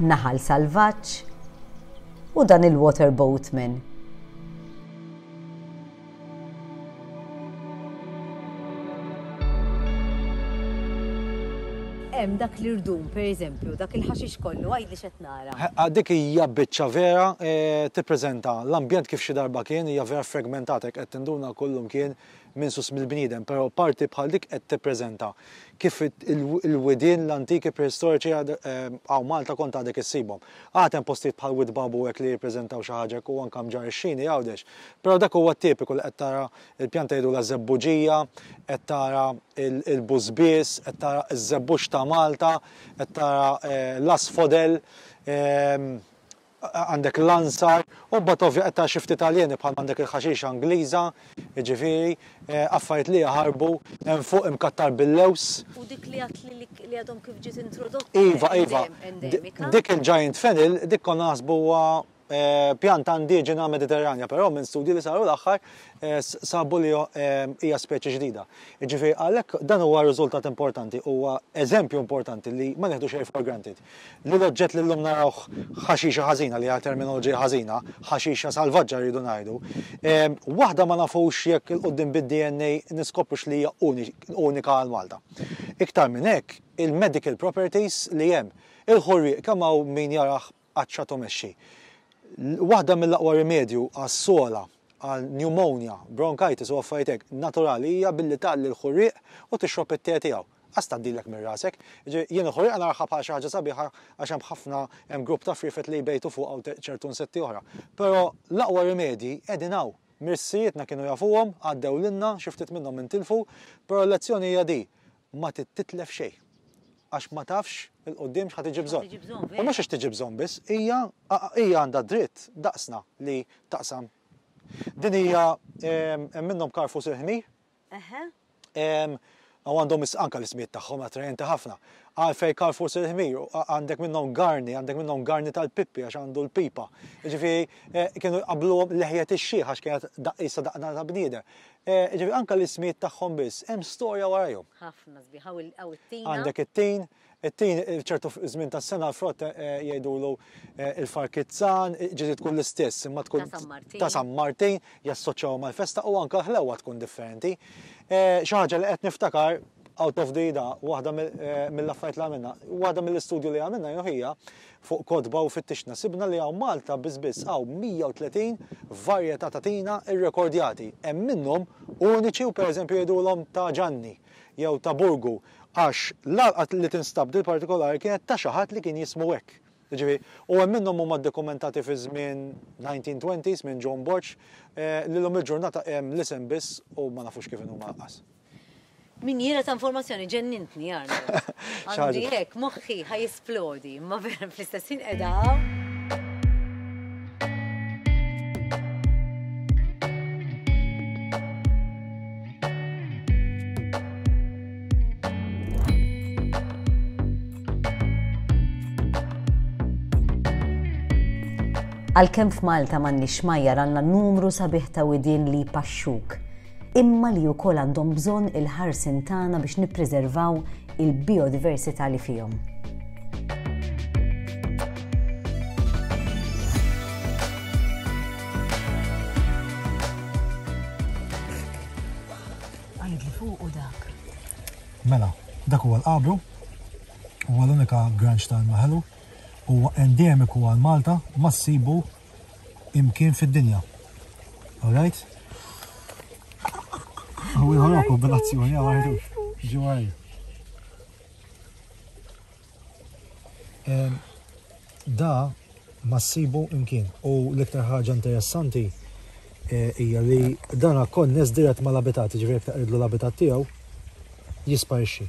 Naħal Salvaġġ u dan il-Water Boatman. Hemm dak l-irdum, per eżempju, dak il-ħaxix kollu, għidli x'qed nara. Ħa dik hija biċċa vera tippreżenta l-ambjent kif xi darba kien, hija vera fragmentata jekk qed tinduna kullum kien minsus mill-bniedem, però parti bħal dik qed tippreżenta kif il-widien l-antiki prehistoriċi hawn Malta kont għadek issibhom. Għad hemm postijiet bħal Wied Babu hekk li jippreżentaw xi ħaġa hekk u anke mġarr ix-xini Għawdex. Però dak huwa t-tipiku li qed tara l-pjanta jgħidulha żebbuġija, qed tara l-bużbież, qed tara ż-żebbux ta' Malta, qed tara l-asfodel. għandek l-ansar u mbagħad ovvja qed tara xi ftit aljeni bħal m'għandek il-ħaxixa Ingliża, jiġifieri, affarijiet li jaħarbu, hemm fuq imkattar bil-lewż. U dik li għedtli li għadhom kif ġiet introdotta. Iva, iva. Dik il-giant fennel, dik konna naħsbu huwa pjanta indiġena Mediterranja, però minn studji li saru l-aħħar sabu li hija speċi ġdida. Jiġifieri għalhekk dan huwa riżultat importanti, huwa eżempju importanti li ma neħdu xejn for granted. li l-oġġett li llum narawh ħaxixa ħażina, li hija terminoloġija ħażina, ħaxixa salvaġġa rridu ngħidu, waħda ma nafux jekk 'il quddiem bid-DNA niskoprux li hija unika għal Malta. Iktar minn hekk, il-medical properties li hemm. Il-ħurrieq kemm hawn min jarah għatxat u mexxi. Waħda mill-aqwa rimedju għas-sogħla, għal pneumonia, bronchitis u affarijiet hekk, naturali hija billi tgħalli l-ħurrieq u tixrob it-te tiegħu. Qas tgħaddilek minn rasek. Jiġifieri jien il-ħuriqa narahha bħala xi ħaġa sabiħa għax hemm ħafna, hemm grupp ta' friefet li jbejtu fuqha u ċertu nsetti oħra. Però l-aqwa rimedji qegħdin hawn. Mirsirietna kienu jafuhom, għaddew lilna, xi ftit minnhom intilfu, però l-lezzjoni hija di, ma tittitlef xejn. Għax ma tafx 'il quddiem x'ħa tiġi bżonn. U mhux għax tiġi bżonn biss, hija hija għandha d-dritt daqsna li taqsam. Din hija hemm minnhom karfus il-ħmir, Eħe. Ehm, u għandhom is- anka l-ismijiet tagħhom attrajenti ħafna. Għalfej Karl forsi il-ħmir, u għa- għandek minnhom Garni, għandek minnhom Garni tal-Pippi għax għandu l-pipa. Jiġifieri, eh, kienu jqabbluhom leħjet ix-xiħ għax kienet da- qisha daqna ta' bniedem. Eh, jiġifieri anka l-ismijiet tagħhom biss hemm storja warajhom. Ħafna sbieħ, hawn il- hawn it-tina. Għandek it-tin, It-tin f'ċertu żmien tas-sena l-frott jgħidulu il-far kizzan, ġieli tkun l-istess imma tkun ta' San Martin, jassoċjawha mal-festa u anke l-ħlewwa tkun differenti. Xi ħaġa li qed niftakar out of the idea, waħda mill-affarijiet li għamilna, waħda mill-istudju li għamilna jew ħija fuq kotba u fittixna sibna li hawn Malta biss biss hawn 130 varjetà ta' tina rrekordjati. Hemm minnhom uniċi u pereżempju jgħidulhom ta' Ġanni. jew ta' Burgu, għax l-għalqa li tinstab din partikolari kienet ta' xi ħadd li kien jismu hekk. Jiġifieri, u hemm minnhom huma ddokumentati fi żmien 1920s minn John Borg, li llum il-ġurnata hemm l-isem biss u ma nafux kif inhu mgħaqqas. Minjiera ta' informazzjoni, ġennintni Arnold. Għandi hekk, moħħi ħa. fl-għodi, imma vera fl-istess ħin qiegħda hawn. Għalkemm f'Malta m'għandniex xmajjar għandna numru sabiħ ta' widien li jpaxxuk. imma li wkoll għandhom bżonn il-ħarsien tagħna biex nippriservaw il-bijodiversità li fihom. Mela, dak huwa l-qabru, huwa l-unika granċ tal-maħelu, huwa endemiku għal Malta, ma ssibu imkien fid-dinja. Alright? U jħolok u bil-azzjoni għardu. Ġuħaj. Da ma ssibu imkien. U l-iktar ħaġa interessanti eh, hija li dan konness dirett mal-abitat, ġifieri jekk taqridlu l-abitat tiegħu jisparixxi.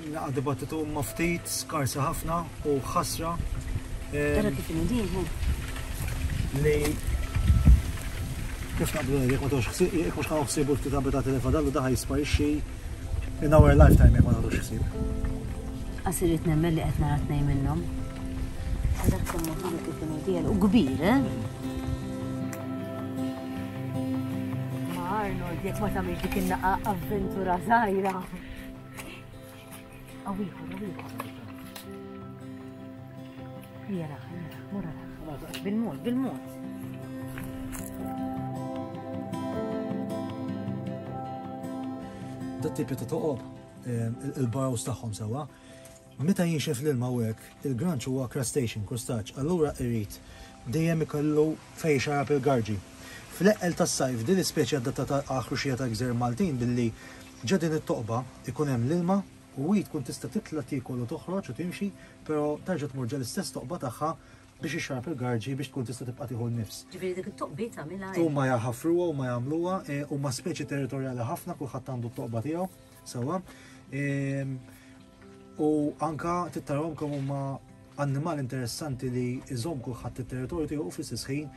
Naqa' dibattitu ma' ftit, skarsa ħafna u ħasra. Tara kif inudin, Li kif naqblu jek ma tux ħsib, jek mux ħanaw ħsib u ftit abitat li fadallu daħaj jisparixxi in our lifetime jek ma tux ħsib. Għasirit nemmen li għetna għatnej minnom. Għadak kumma ħana kif inudin u kbir, eh? Arnold, jek ma tamil dik il-naqa avventura zaħira. Bil-mod, bil-mod. Dat tipi ta' toqob eh, il-barrows tagħhom sewwa Meta jinxef l-ilma u hekk, il-granċ huwa crustacean, krustaċ, allura irid dejjem ikollu fejn ixarrab il-garġi. Fl-eqqel tas-sajf, din l-ispeċi adattata għall-ħruxija tal-gżejjer Maltin billi ġo din it-toqba jkun hemm l-ilma u hi tkun tista' titla' tiekol u toħroġ u timxi però terġa' tmur ġol-istess toqba tagħha biex ixxarrab il-garġi biex tkun tista' tibqa' tieħu n-nifs. Ġifieri dik it-toqbiet tagħmilha hi. Huma jħaffruha, huma jagħmluha, huma speċi territorjali ħafna, kulħadd għandu t-toqba tiegħu. Sawa. Ehm, u anka tittarhom kemm huma annimal interessanti li jżomm kulħadd it-territorju tiegħu fl-istess ħin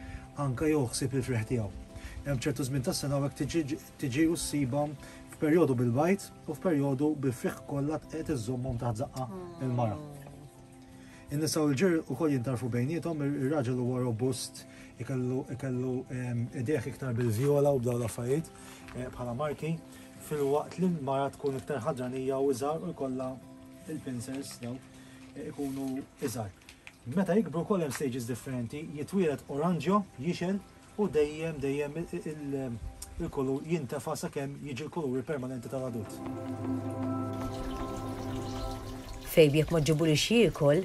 anka joħsib il-freħ tiegħu. Hemm ċertu żmien tas-sena hekk tiġi u ssibhom f'perjodu bil-bajt u f'perjodu bil-friħ kollha qed iżommhom taħt zaqqa il-mara. In-nisa u l-ġir ukoll jintarfu bejnietom, ir-raġel huwa robust, ikellu ehm, ideħ iktar bil-vjola u b'daw l-affarijiet eh, bħala marki. filwaqt li l-mara tkun iktar ħadranija u iżgħar u jkollha il-pincers daw eh, ikunu iżgħar. Meta jikbru wkoll hemm stages differenti, jitwielet oranġjo, jixel u dejjem dejjem il-kulur jintefa sakemm jiġi l-kuluri permanenti tal-adult. Fejb jekk ma ġibulix jiekol,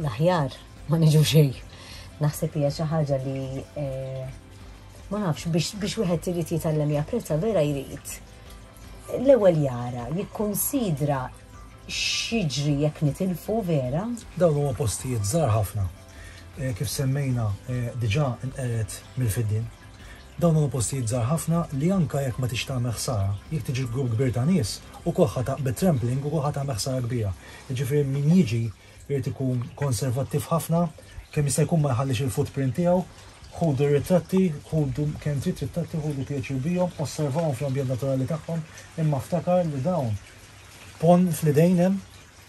L-aħjar ma niġu xejn. Naħseb hija xi ħaġa li eh, ma nafx biex wieħed irid jitgħallem japprezza vera jrid. L-ewwel jara, jikkunsidra xiġri jekk nitilfu vera. Dawn huwa postijiet żgħar ħafna. Eh, kif semmejna eh, diġà nqeret mill-fiddin. Dawn huwa postijiet żgħar ħafna li anka jekk ma tix tagħmel ħsara, jekk tiġi grupp kbir ta' nies u koħħa ta' bit-trampling u koħħa ta' ħsara kbira. Jiġifieri min jiġi Irid ikun konservattiv ħafna, kemm jista' jkun ma jħallix il-footprint tiegħu. Ħudu r-ritratti, ħudu kemm trid ritratti, ħudu pjaċir bihom, osservahom fl-ambjent naturali tagħhom, imma ftakar li dawn ponn fl-idejn hemm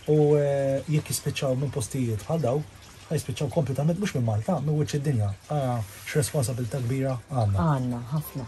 u jekk jispiċċaw minn postijiet bħal dawn, ħa jispiċċaw kompletament mhux minn Malta, minn wiċċ id-dinja. Ara x'responsabilità kbira għandna. Għandna, ħafna.